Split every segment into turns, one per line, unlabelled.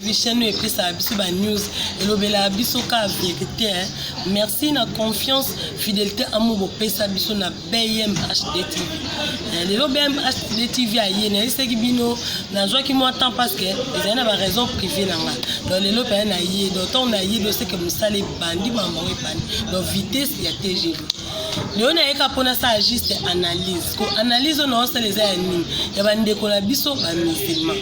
Vision epesaka biso ba news elobelaka biso ka verite hein? merci na confiance fidelité amour bopesa biso na bmhd tv eh, lelo bmhd tv aye nayebisaki bino nazwaki mwa temps parce que ezali na baraison privé na nga donc lelo mpenza naye donc ntango naye doseke mosala ebandi mambo yango ebandi donc vitesse ya tgv lelo nayeka mpo nasala juste analyse ko analyse oyo naosala eza ya nini ya bandeko na biso bamusulman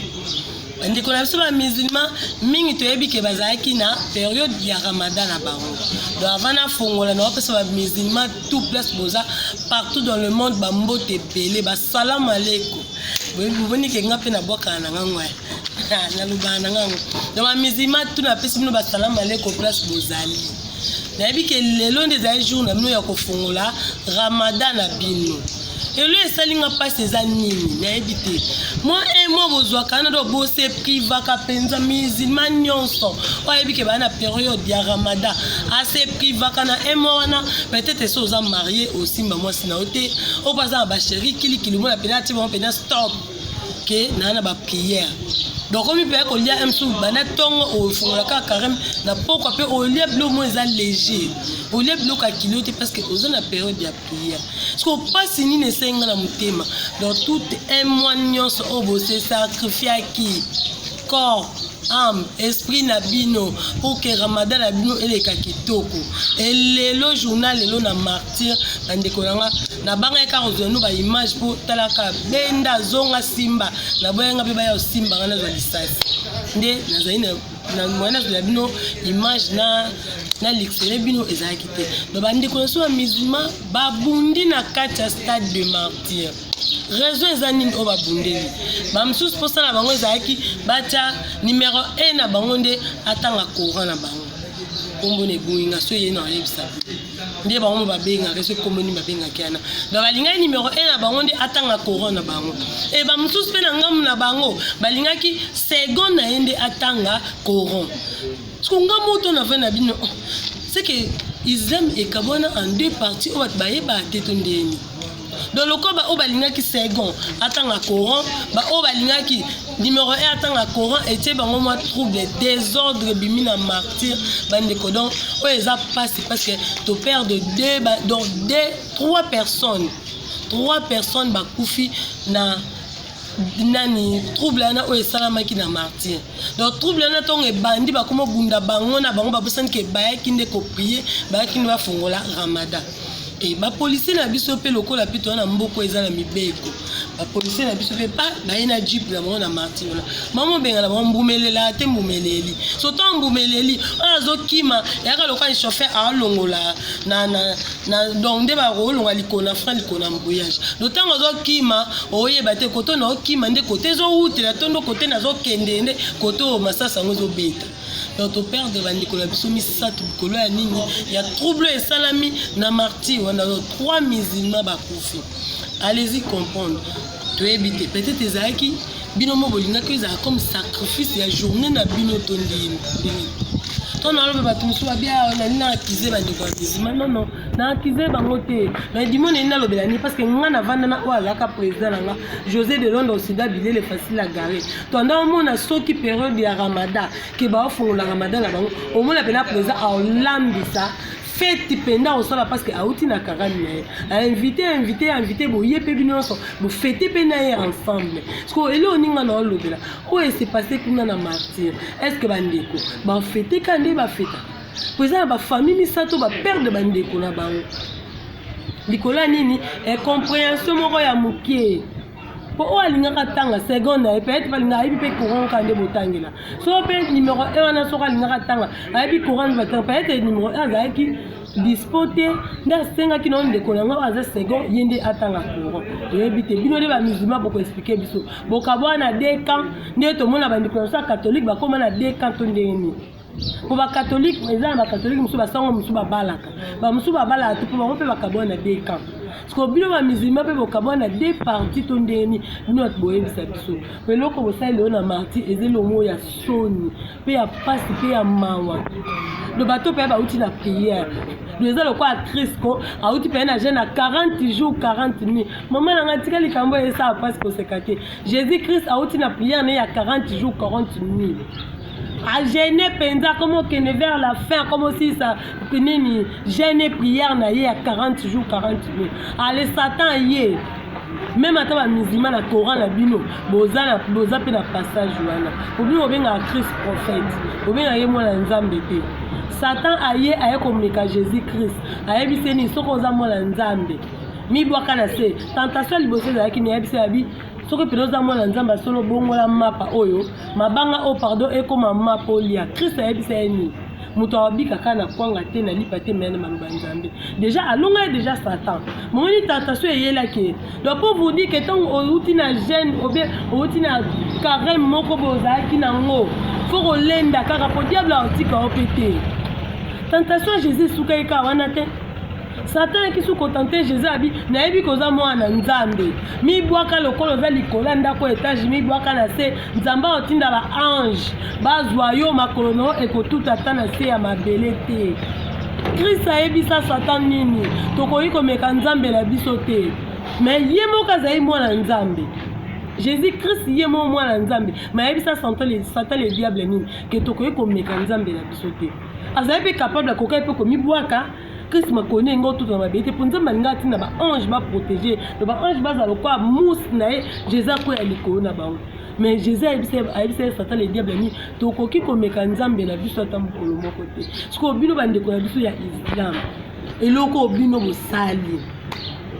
bandeko na biso ba musulman mingi toyebi ke bazalaki na periode ya ramadan na bango donc avant nafongola na bapesa ba musulman tout place boza partout dans le monde bambote ebele basalamu aleko boboni ke nga mpe nabwakana na nga ngwaya nalobaka na nga yango donc ba musulman tout napesi bino basalamu aleko place bozali nayebi ke lelo nde ezali jour na bino ya kofongola ramadan na bino elo esali nga mpasi eza nini nayebi te mwa un mois bozwaka na do bose privaka mpenza musulman nyonso oyo ayebi ke baa na periode ya ramadan ase privaka na un mois wana peut-être esi oza marie osimba mwasi na yo te oyo mpe aza na basheri kilikili omona mpenza atie bango mpenza stop ke naa na bapriere donc omi mpenza kolia msu banda ntongo ofungola kaka careme na pokwa mpe olia biloko moko eza léger olia biloko ya kilo te parce que oza na periode ya koya siko mpasi nini esengi nga na motema dans tout un mois nyonso oyo bose sacrifiaki corps ame esprit na bino mpo ke ramadan na bino eleka kitoko elelo journal lelo na martyr na ndeko na nga nabangaki kaka kozwa no baimage mpo talaka benda zonga simba naboyanga mpe baya kosimba nga nazwa lisasi nde nazali na na moyen azela bino image na na lixele bino ezalaki te donc bandeko na biso ya musulman babundi na kati ya stade de martyr raison eza nini oyo babundeli bamosusu mposa na bango ezalaki batya numero 1 na bango nde atanga courant na bango nkombo na eboyi nga so eye na oyebisa nde bango mo babengaka ese nkombo nini babengaki yana donc alingaki numero 1 na bango nde atanga coran na bango e bamosusu mpe na ngambo na bango balingaki second na ye nde atanga coran siko nga moto na vai na bino oh, seke islam ekabwana en deux partie oyo bato bayebaka te to ndeni donc lokola baoyo balingaki second atanga coran baoyo balingaki numero 1 atanga coran etie bango mwa trouble desordre ebimi na martyr bandeko donc oyo eza mpasi parce que toperde deux donc deux trois personnes trois personnes bakufi na nani trouble wana oyo esalamaki na martyr donc trouble wana ntongo ebandi bakoma obunda bango na bango babosani ke bayaki nde koprie bayaki nde bafongola ramadan Et ba policiers na biso pe lokola pe toza na mboko eza na mibeko. Ba policiers na biso pe pa baye na jeep na bango na marti wana. Mama bengana bango mbumelela te mbumeleli. Soto mbumeleli oyo azokima yaka lokola ni chauffeur alongola na na na donc nde bakolonga likona frein likona mbuyage. No tango azokima oyeba te koto na okima nde kote ezowutela tondo kote nazokende nde koto masasa yango ezobeta. donc to perdre bandeko na biso misato likolo ya nini ya trouble esalami na martyr wana donc trois musulman bakufi allez-y comprendre toyebi te peut-être ezalaki bino mo bolingaki ezala comme sacrifice ya journée na bino to ndini to naloba bato mosusu babia nani na akize bandeko ya musulman nono na akize bango te na edimo neni nalobela nini parce que ngai navanda na oyo azalaka président na nga josé de londres osida bilele facile agare Tanda omona soki periode ya Ramadan ke ba ofungola Ramadan na bango omona pena president aolambisa feti mpenza akosala parce que auti na karani na ye ainvite ainvite ainvite boye mpe bino nyonso bofete mpe na ye ensemble siko eloko ninga na olobela oyo esepase kuna na martyre est ce que bandeko bafete ka nde bafeta mpo eza na bafamille misato baperde bandeko na bango likolo ya nini incomprehension moko ya moke mpo oyo alingaka atanga seconde na ye peut-être balinga ayebi mpe coran kaka nde botangela so mpe numero e wana soko alingaka atanga ayebi coran nde batanga peut-être numero e azalaki dispo te nde asengaki nao ndeko na ngai aza second ye nde atanga coran oyebi te bino nde bamusulman bokoexplike biso bokabwana na deux camp nde tomona bandeko na biso ya catholique bakóma na deux camp to ndenge nini mpo bakatolike eza na bakatolike mosusu basango mosusu babalaka bamosusu babalaka te mpo bango mpe bakabwana na deux camp siko bino bamizilma mpe bokabwana na deux parti to ndenge nini bino bato boyebisa biso mpe eloko bosali lelo na marti eza elongo ya soni mpe ya mpasi mpe ya mawa do bato mpe bauti na priere do eza lokola crisco auti mpe na jeune na 40 jours 40 nuit mama na ngai tika likambo esala mpasi koseka te jésus christ auti na priere na ye ya 40 jours 40 nuit agene mpenza akomi okende vers la fin akomi osilisa nini gene prière na ye ya 40 jour 40 nuit ale satan ye meme ata bamizima na coran na bino boza mpe na passage wana obino obengaka christ prophète obengaka ye mwana nzambe te satan aye aye komeka jésus christ ayebisi ye nini soki oza mwana nzambe mibwaka na se tentation liboso ezalaki meyebisi yabi soki mpenza oza mwana nzambe ya solo bongola mapa oyo mabanga oyo pardon ekoma mapa olia kristo ayebisa ye nini moto abika kaka na kwanga te na lipa te meyana maloba ya nzambe deja alonga ye deja satan momoni tentation eyelaki ye donc po vous dire ke ntango outi na gene obie outi na carême moko boye ozalaki nango fo kolenda kaka po diable aotika yo mpe te tentation ya jésus esukaki kaka wana te Satan ayaki su kotante Jesus abi nayebi koza mwana nzambe mibwaka lokola oza likolo ya ndako ya etage mibwaka na se nzambe akotinda ba ange bazwa yo makolo na yo ekotuta ata na se ya mabele te kristo ayebisa satan nini tokoki komeka nzambe na biso te me ye moko azali mwana nzambe jésus christ ye moko mwana nzambe me ayebisa satan le diable nini ke tokoki komeka nzambe na biso te azali mpe kapable akokai mpe komibwaka Christ makoni yango otutana mabe te mpo nzambe alinga atinda baange baprotege to baange bazala lokola mousse na ye jésus akwea likolo na bango mais jésus ayebisaki satan le diable ani tokoki komeka nzambe na biso ata mokolo moko te sikoyo bino bandeko na biso ya islam eloko bino bosali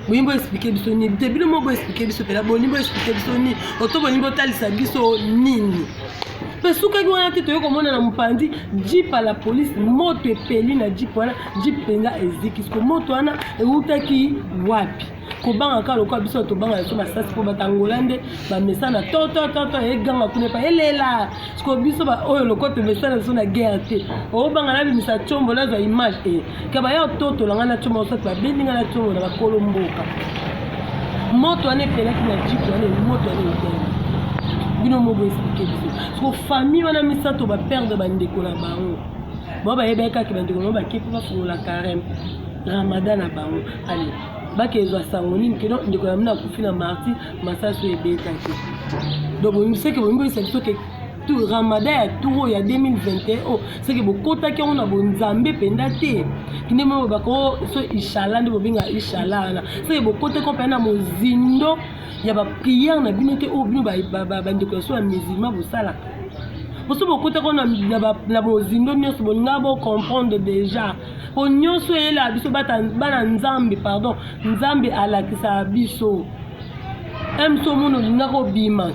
bolingi bo explike biso nini te bino moko bo explike biso mpela bolingi bo explike biso nini oto bolingi botalisa biso nini mpe sukaki wana te toyei komona na mopanzi jip ya la polise moto epeli na jip wana jip mpenza eziki siko moto wana eutaki wapi kobanga kaka lokola biso tobanga biso masasi mpo batangola nde bamesana totototo eganga kuna epa elela siko biso baoyo lokola tomesana biso na guerre te obanga nabimisa combo nazwa image e eh, kaba ya ototola ngai na combo osati babendi ngai na combo na bakolo mboka moto wana epelaki na jip wana moto wana eteli bino moko esplike biso siko famille wana misato baperde bandeko na bango bao bayebaki kaka bandeko na bango bake mpo bafungola careme ramadan na bango ale bakezwa sango nini keno ndeko na mino akufi na marti masasu ebetaki donc soki bomiboyisa biso ke ramadan ya tour ya 2021 oyo soki bokotaki yango na bonzambe mpenza te kinde moko baka o so ishala nde bobenga ishala wana soki bokotaki mpenza na mozindo ya bapriere na bino te oyo bino bandeko ya so ya musulman bosalaka boso bokotaki na mozindo nyonso bolinga bocomprendre déjà po nyonso eyelaka biso bana nzambe pardon nzambe alakisaka biso emso mona olingaka obima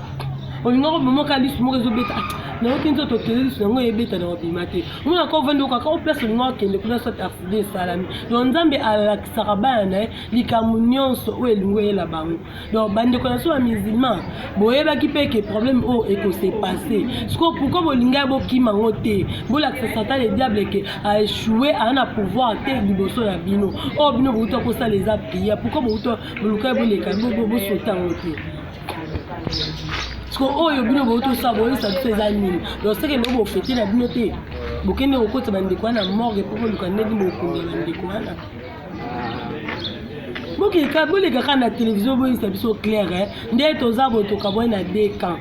olingaka obima oka lisu moko ezobeta nayoki nzoto okende lisu yango eyebeta na obima te omona ka ovandi okaka o place olingaka okende kuna soit accident esalami donc nzambe alakisaka bana na ye likambo nyonso oyo elingi oyela bango donc bandeko na biso ba musulman boyebaki mpe ke problème oyo ekose passe sikoyo pourkoi bolingai bokima yango te bolakisa satan le diable ke aechoue aa na pouvoir te liboso na bino oyo bino bouta kosala eza prière pourkoi bouta bolukai boleka bosota yango te sikoyo oyo bino botosa boyebisa biso eza nini donc seke ndeko bofete na bino te bokende kokota bandeko wana morgue mpo boluka ndenge bokundela bandeko wana bokeka bolekaka na televizio boyisa biso claire eh. nde toza botoka boye na de camp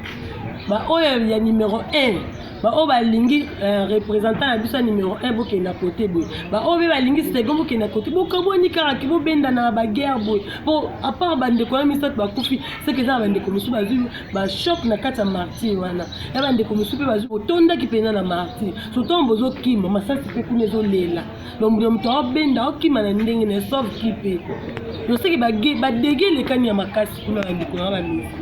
baoyo ya numero 1 baoyo balingi eh, représentant na biso ya numero 1 bokenda kote boye baoyo mpe balingi second bokenda kote bokabwani kaka ke bobendana na baguerre boye mpo apart bandeko ya misato bakufi seke eza na bandeko mosusu bazwi bachoc na kati ya martir wana ya bandeko mosusu mpe bazwi otondaki mpenza na martir sotango bozokima masasi mpe kuna ezolela donc de moto aobenda okima na ndenge na sauve ki mpe toseki badege elekani ya makasi kuna na ndeko na bamisi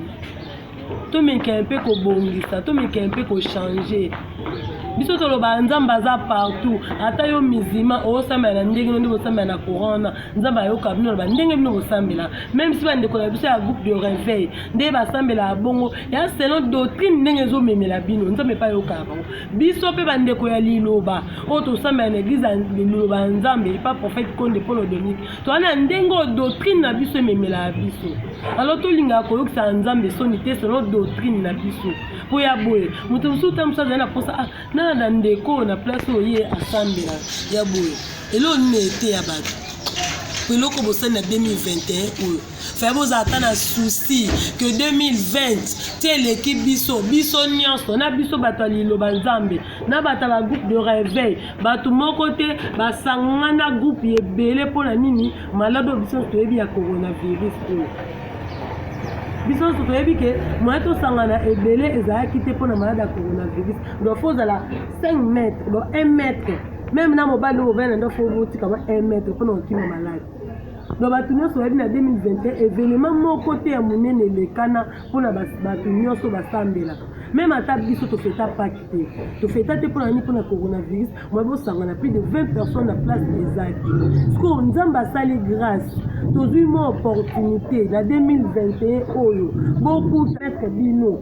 tomekee mpe kobongisa tomekee mpe kochange biso tolobaka nzambe aza partout ata yo mizima osambela na ndenge no nde bosambela na courant wana nzambe ayoka bino loba ndenge bino bosambela meme si bandeko na biso ya groupe de réveil nde basambelaka bongo ya selon doctrine ndenge ezomemela bino nzambe epa ayokaka bango biso mpe bandeko ya liloba oyo tosambela na eglize ya liloba ya nzambe epa prophète konde polo dominique toza na ndenge oyo doctrine na biso ememelaka biso alors tolingaka koyokisaka nzambe soni te selon doctrine na biso mpo ya boye moto mosusu ta mosusu azali na mposa ah, nana na ndeko oyo na place oyo ye asambela ya boye eloo nini eteya bato mpo eloko bosali na 2021 oyo Faya boza ata na souci que 2020 ti eleki biso biso nyonso na biso bato ya liloba nzambe na bato ya bagroupe de réveil bato moko te basangana groupe ebele mpo na nini maladi oyo biso toyebi ya coronavirus oyo biso nyonso toyebi ke moye tosangana ebele ezalaki te mpo na maladi ya coronavirus donc fo ozala 5 mètre donc 1 mètre meme na mobali oyo ovanda nde fo obotikama 1 mètre mpo na kokima maladi Donc bato nyonso bayebi na 2021 evenement moko te ya monene elekana mpo na bato nyonso basambelaka meme ata biso tofeta paki te tofeta te mpona nini mpona coronavirus mwa bosangana plus de 20 personnes na place ezaki sikoyo nzambe asali grâce tozwi mwa opportunité na 2021 oyo bokutreke bino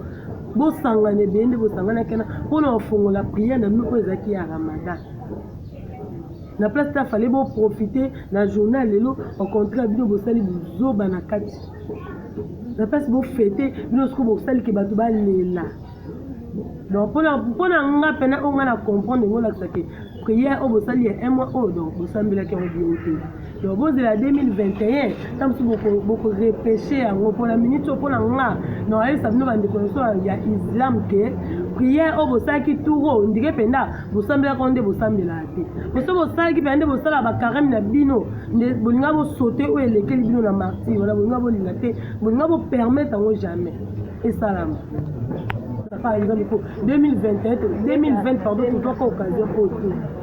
bosangana ebele nde bosanganaki wana mpona kofongola priere na bino oyo ezalaki ya ramadan Na place ta fallait bo profiter na journée ya lelo au contraire bino bosali buzoba na kati na place bo fete bino siko bosali ke bato balela donc mpona mpona nga mpena oyo nga na comprendre yango olakisa ke prière oyo bosali ya un mois oyo donc bosambelaki yango bino te donc bozela 2021 ta mosusu bokorepeshe yango mpona minute oyo mpona nga na ayebisa bino bandeko nyonso ya islam ke prière oyo bosalaki tour oyo ndike mpenza bosambelaka wana nde bosambelaka te poso bosalaki mpenza nde bosalaka bakarame na bino nde bolinga bosote oyo elekeli bino na martire wana bolinga bolinga te bolinga bopermettre yango jamais esalama par exemple ko 2021 2020 pardon tozwaka occasion oyo te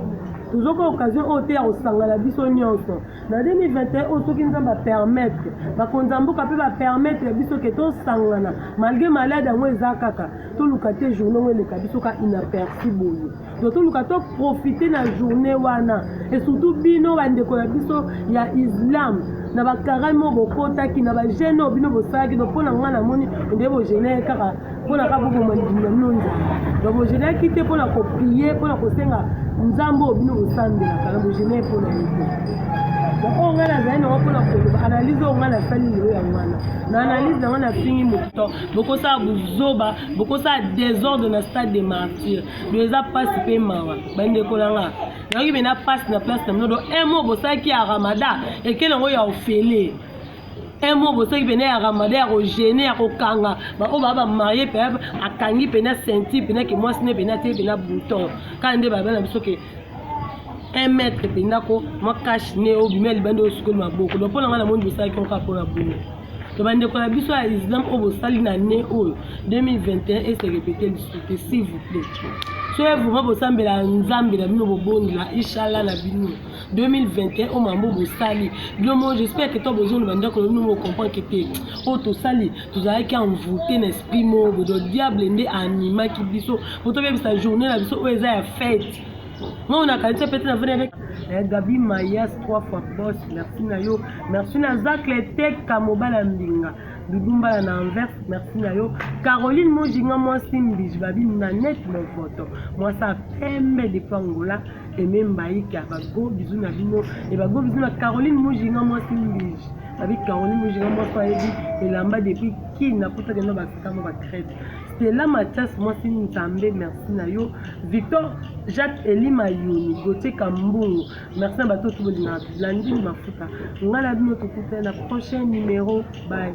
tozoka occasion oyo te ya kosangana biso nyonso na 2021 oyo soki nzambe apermettre bakonzi ya mboka mpe bapermettre biso ke tosangana malgre malade yango eza kaka toluka te journée yango eleka biso ka inaperci boye donc toluka to profite na journée wana et surtout bino bandeko ya biso ya islam na bakarami oyo bokotaki na bagene oyo bino bosalaki donc mpo na ngai namoni nde bogenee kaka mpo na kaka boboma libumu na bino nzambe donc bogeneaki te mpo na koprie mpo na kosenga nzambe oyo bino bosambelaka na bogenee mpo na ye te donc oyo ngai nazali nango mpo na koloba analyse oyo ngai nasali lelo yango wana na analyse na ngai nafingi moto bokosala buzoba bokosala desordre na stade de martyr do eza mpasi mpe mawa bandeko na nga nayoki mpe na mpasi na place na bino do mo bosalaki ya ramada ekele yango ya ofele mo bosalaki mpena ya ramada ya kogene ya kokanga baoyo baa bamarie mpe akangi mpena senti mpena ke mwasi ne mpena te mpena bouton kaka nde babana biso ke un mètre mpenza ko mwa kashe ne obimi ya libanda osukoli maboko donc mpo na ngai namoni bosalaki yango kaka mpo na boye to bandeko na biso ya islam oyo bosali na ne oyo 2021 eserepete lisusu te s'il vous plaît soki vrema bosambela nzambe na bino bobondela inshallah na bino 2021 oyo mambo bosali bino mo j'espère que to bozongi bandako na bino mocomprendre te oyo tosali tozalaki envoute na esprit moko bodo diable nde animaki biso po tobebisa journée na biso oyo eza ya fete Moi na kanisa pete na vene avec eh, Gabi Mayas trois fois boss merci na yo merci na Zacle Teka mobala mbinga bibumbala na Anvers merci na yo Caroline Mojinga mwasi mbiji babi na net mon photo mwasi ya pembe depuis Angola Aime Mbaïke abago bizu na bino ebago bizu na Caroline Mojinga mwasi mbiji babi Caroline Mojinga mwasi ayebi elamba depuis Kin na kutakenda bakitamo ba crete Stella Mathias mwasi nzambe merci na yo Victor Jacques Eli Mayoni Gauthier Kambungu merci na bato oso bolingaka blandine mafuta ngai na bino tokutana na prochain numero bye